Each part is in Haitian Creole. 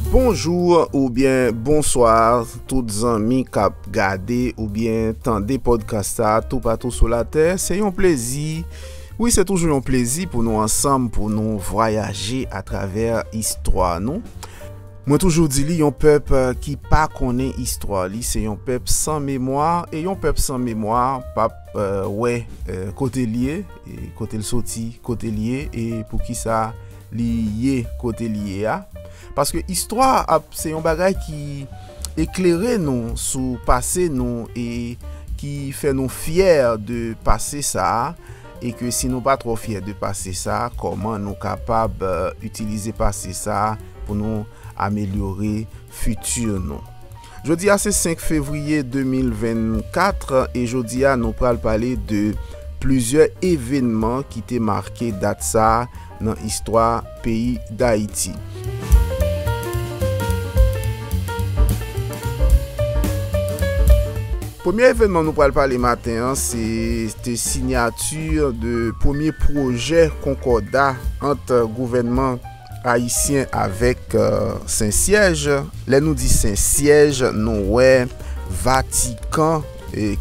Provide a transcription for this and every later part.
Bonjou ou byen bonswa tout zanmi kap gade ou byen tande podcast sa tou patou sou la tè se yon plezi wi se toujou yon plezi pou nou ansanm pou nou vwayaje a travè istwa nou Mwen toujou di li yon pèp euh, ki pa konnen istwa li se yon pèp san memwa e yon pèp san memwa pap euh, wè euh, kote liye Kote l soti, kote l ye e pou ki sa li ye kote li ye a. Paske istwa ap se yon bagay ki eklere nou sou pase nou e ki fè nou fyè de pase sa a e ke si nou pa twò fyè de pase sa a kòman nou kapab itilize pase sa a pou nou amelyore fiti nou. Jodi a se 5 fevriye 2024 e jodi a nou pral pale de plizyè evenman ki te make dat sa nan istwa peyi Dayiti. Premye evenman nou pral pale maten an se te sinyati de premye pwojè konkòda ant gouvènman. Ayisyen avèk Sensyèj. Lè nou di Sensyèj, nou wè Vatikan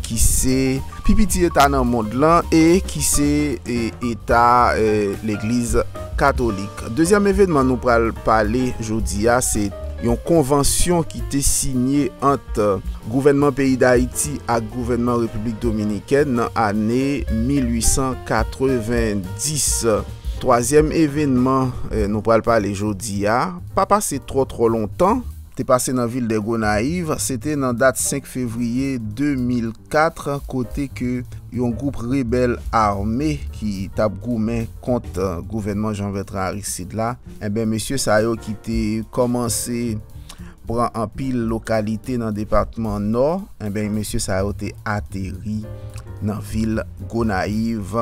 ki se. Pi piti eta nan mond lan e ki se eta Legliz Katolik. Dezyèm evenman nou pral pale jodi a se yon konvansyon ki te sinye ant gouvènman peyi Dayiti ak gouvènman Repiblik Dominikèn nan ane 1890. Twazyèm evenman nou pral pale jodi a, pa pase twò twò lontan, te pase nan vil de Gonayiv se te nan dat 5 fevriye 2004 kote ke yon gwoup rebèl ame ki tap goumen kont gouvènman Jean Bertrand Aristide la, enben mesye sa yo ki te kòmanse. pran anpil lokalite nan depatman Nò, enben mesye sa yo te ateri nan vil Gonayiv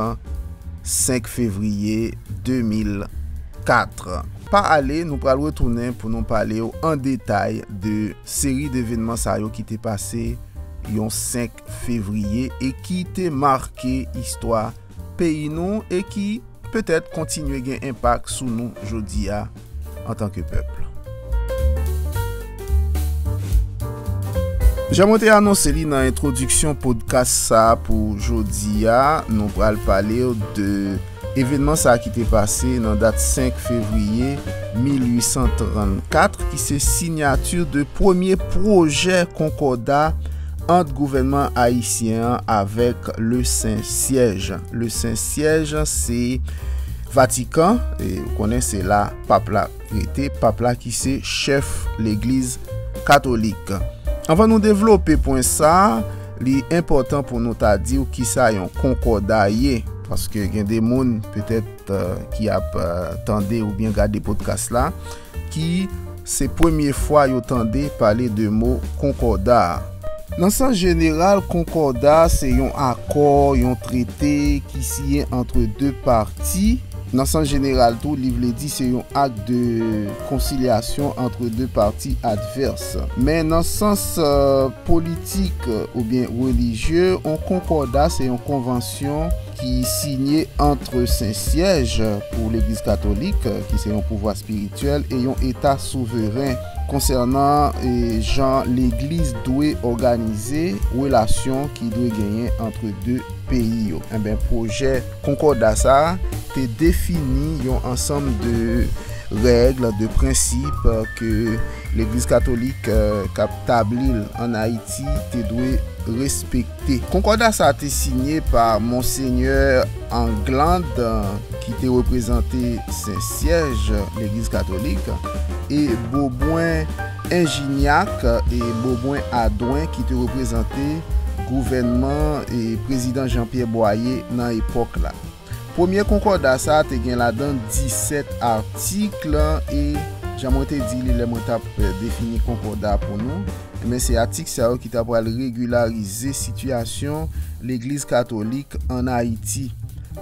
5 fevriye 2004. Pa ale, nou pral retounen pou nou pale w an detay de seri devenman sa yo ki te pase yon 5 fevriye e ki te make istwa. peyi nou e ki, petèt, kontinye gen enpak sou nou jodi a antanke pèp. Jan mwen te anonse li nan entwodiksyon podkas sa pou jodi a, nou pral pale w de evenman sa ki te pase nan dat 5 fevriye 1834 ki se sinyati de premye pwojè konkòda ant gouvènman ayisyen an avèk Le Sen Syèj. Le Sen Syèj se Vatikan, e ou konnen se la Pap la rete, Pap la ki se chèf Legliz Katolik. Anvan nou devlope pwen sa, li enpòtan pou nou ta di ou kisa yon konkòda ye. Paske gen de moun petèt ki ap tande oubyen gade podkas la, ki se premye fwa yo tande pale de mo konkòda a. Nan sans jeneral, konkòda se yon akò, yon trete ki siyen antre de pati. Nan sans jeneral tou, li vle di se yon ak de konsilyasyon antre de pati advès. Men nan sans politik oubyen relijye, on konkòda se yon konvansyon. ki siyen antre Sen Syèj pou Legliz Katolik, ki se yon pouvwa espirityèl e yon eta souveren, konsènan jan Legliz dwe òganize relasyon ki dwe genyen antre de peyi yo. Enben, pwojè Konkòda sa a te defini yon ansanm de règ, de prensip ke Legliz Katolik k ap tabli l ann Ayiti te dwe respekte. Te. Konkòda sa a te sinye pa Monsenyè England, ki te reprezante Sen Syèj, Legliz Katolik, e Beaubrun Ingignac e Beaubrun Audouin ki te reprezante gouvènman Prezidan Jean-Pierre Boyer nan epòk la. Premye konkòda sa a te gen ladan disèt atik e, jan mwen te di li lè mwen t ap defini konkòda a pou nou, enben se atik sa yo ki t ap pral regilarize sitiyasyon Legliz katolik ann Ayiti.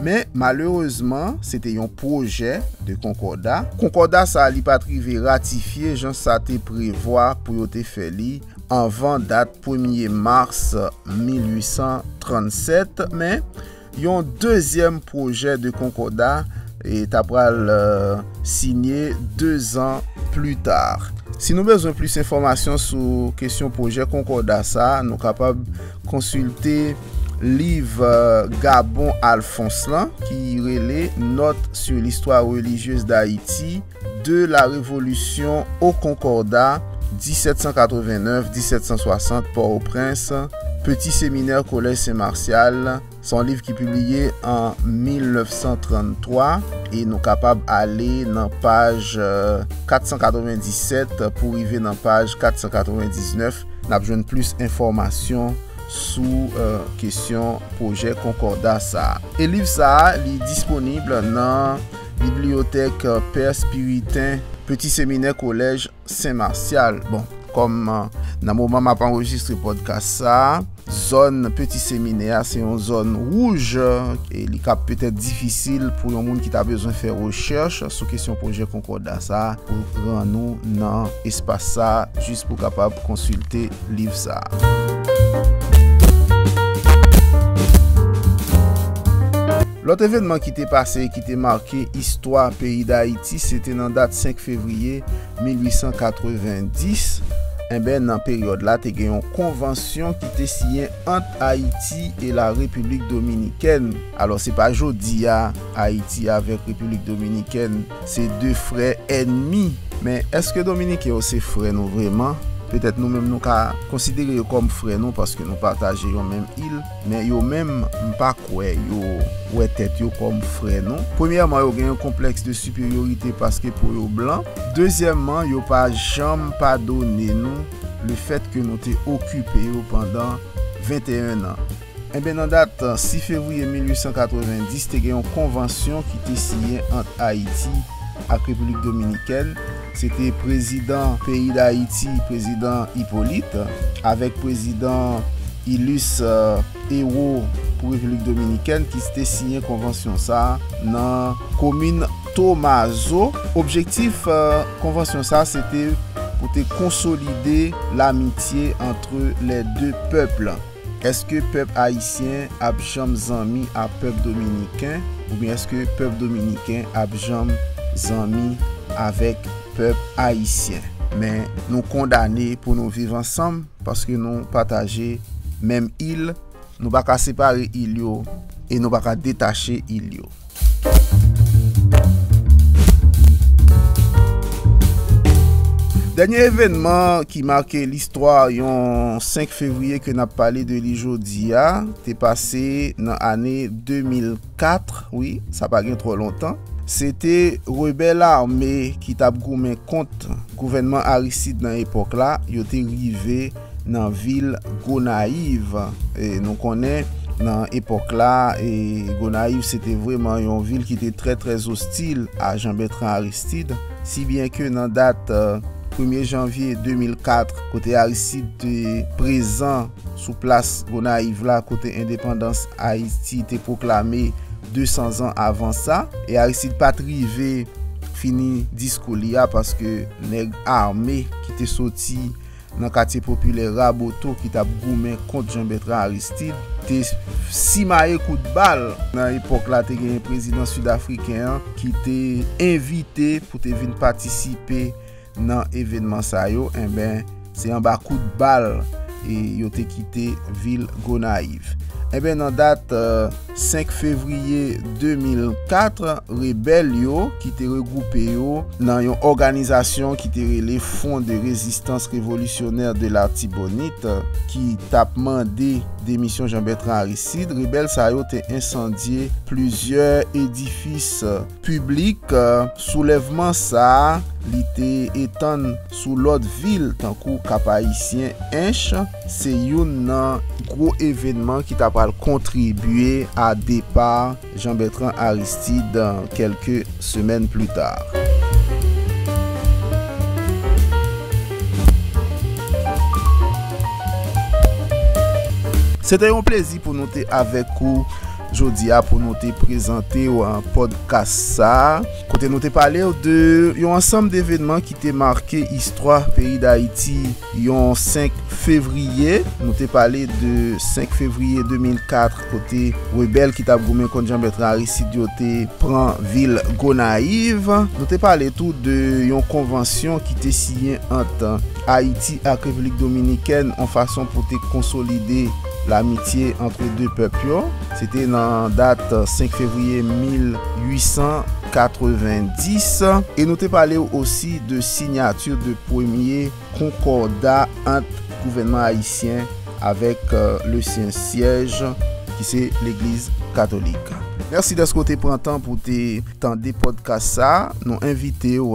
Men, malerezman, se te yon pwojè de konkòda. Konkòda sa a li pa t rive ratifye jan sa te prevwa pou yo te fè li anvan dat premye mas 1837, men, Yon dezyèm pwojè de konkòda ta pral sinye 2 zan pli ta. Si nou bezwen plis enfòmasyon sou kesyon pwojè konkòda sa, nou kapab konsilte liv Gabon Alphonse lan ki rele Notes sur l'histoire religieuse d'Haïti, de la Révolution au Concordat, 1789-1760, Port-au-Prince, Petit Séminaire Collège Saint Martial, se yon liv ki pibliye an 1933 e nou kapab ale nan paj 497 pou rive nan paj 499, n ap jwenn plis enfòmasyon sou kesyon pwojè konkorda sa a. E liv sa a li disponib nan. Bibliyotèk Pè Spiritain, Peti Seminè Kolèj Sen Marsyal. Bon, kòm nan moman m ap anrejistre pòdkas sa a, zòn Peti Seminè a se yon zòn wouj e li ka petèt difisil pou yon moun ki ta bezwen fè rechèch sou kesyon pwojè konkòda sa a pou rann ou nan espas sa a jis pou kapab konsilte liv sa a. Lòt evènman ki te pase e ki te make istwa peyi Dayiti se te nan dat 5 fevriye 1890, enben nan peryòd la te gen yon konvansyon ki te siyen ant Ayiti e la Repiblik Dominikèn. Alò se pa jodi a Ayiti avèk Repiblik Dominikèn se de frè ènmi, men èske Dominiken yo se frè nou vreman? Petèt nou menm nou ka konsidere yo kòm frè nou paske nou pataje yon menm il. Men yo menm, m pa kwè yo wè tèt yo kòm frè non. Premyèman, yo gen yon konplèks de siperyorite paske po yo blan. Dezyèmman, yo pa janm padone nou lefèt ke nou te okipe yo pandan 21 nan. Enben, nan dat 6 fevriye 1890, te gen yon konvansyon ki te siyen ant Ayiti ak Repiblik Dominikèn, Se te prezidan peyi Dayiti, prezidan Ipolit, avèk prezidan ilis ewo pou Repiblik Dominikèn ki te siyen konvansyon sa a nan komin Tomazo. Objektif konvansyon sa a se te pou te konsolide lamitye antre lè de pèp. Eske pèp ayisyen ap janm zanmi a pèp dominiken oubyen eske pèp dominiken ap janm zanmi avèk pèp ayisyen? Men nou kondane pou nou viv ansanm paske nou pataje menm il, nou pa ka separe il yo e nou pa ka detache il yo. Dènye evènman ki make listwa yon 5 fevriye ke nap pale de li jodi a, te pase nan ane 2004, wi, sa pa gen tro lontan, se te rebèl ame ki tap goumen kont gouvènman Aristide nan epok la, yo te rive. nan vil Gonayiv. Nou konnen nan epòk la, Gonayiv se te vreman yon vil ki te trè trè zostil a Jan Bètran Aristid, si byen ke nan dat premye janvye 2004, kote Aristid te prezan sou plas Gonayiv la kote endepandans Ayiti te pwoklame 200 zan avan sa, e Aristid pa t rive fini diskou li a paske nèg ame ki te soti nan katye popilè Raboto ki t ap goumen kont Jean-Bertrand Aristide, te simaye kout bal. Nan epòk la, te genyen prezidan Sid-Afriken an ki te envite pou te vin patisipe nan evènman sa yo, enben, se anba kout bal yo te kite vil Gonayiv. Enben, nan dat. 5 fevriye 2004, rebèl yo, ki te regwoupe yo nan yon òganizasyon ki te rele Front de Résistance Révolutionnaire de l'Artibonite, ki t ap mande demisyon Jean-Bertrand Aristide, rebèl sa yo te ensandye plizyè edifis piblik. Soulèvman sa a, li te etann. Sou lòt vil tankou Kap-Ayisyen, Ench se youn nan gwo evenman ki ta pral kontribye a depa Jean-Bertrand Aristide kèlke semèn pli ta. Se te yon plezi pou nou te avèk ou jodi a pou nou te prezante w podcast sa. Kote nou te pale w de yon ansanm devenman ki te make istwa peyi Dayiti yon 5 fevriye. Nou te pale de 5 fevriye 2004 kote rebèl ki t ap goumen kont Janbètran Aristid yo te pran vil Gonayiv. Nou te pale tou de yon konvansyon ki te siyen ant Ayiti ak Repiblik Dominikèn yon fason pou te konsolide. Lamitye antre de pèp yo. Se te nan dat 5 fevriye 1890 e nou te pale w osi de sinyati de premye konkòda ant gouvènman ayisyen avèk le sen syèj ki se legliz katolik. Mèsi dèske w te pran tan pou w te tande pòdkas sa. Nou envite w.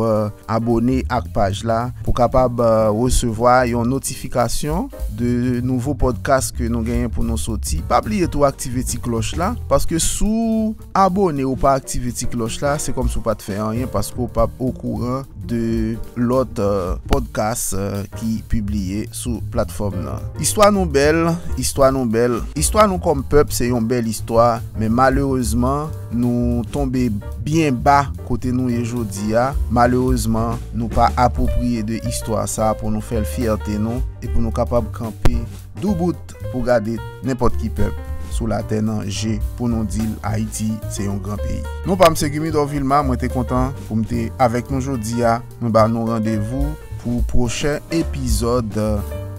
Abone ak paj la pou kapab resevwa yon notifikasyon de nouvo podcast ke nou genyen pou nou soti. Pa bliye tou aktive ti klòch la, paske si w abone ou pa aktive ti klòch la, se kòmsi w pat fè anyen paske w pap okouran de lòt podcast ki pibliye. sou platfòm nan. Istwa nou bèl, istwa nou bèl, istwa nou kòm pèp se yon bèl istwa, men malerezman nou tonbe byen ba kote nou ye jodi a, malerezman nou pa apwopriye de istwa sa pou nou fè l fyète nou e pou nou kapab kanpe doubout pou gade nenpòt ki pèp sou latè nan je pou nou di l Ayiti se yon gran peyi. Non pa m se Gumidor Vilma, mwen te kontan pou m te avèk nou jodi a. Mwen ba nou randevou pou pwochen epizòd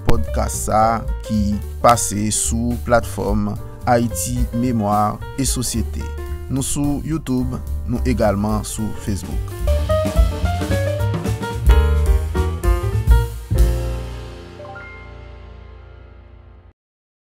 podcast sa ki pase sou platfòm Haïti Mémoire et Société. Nou sou YouTube, nou egalman sou Facebook.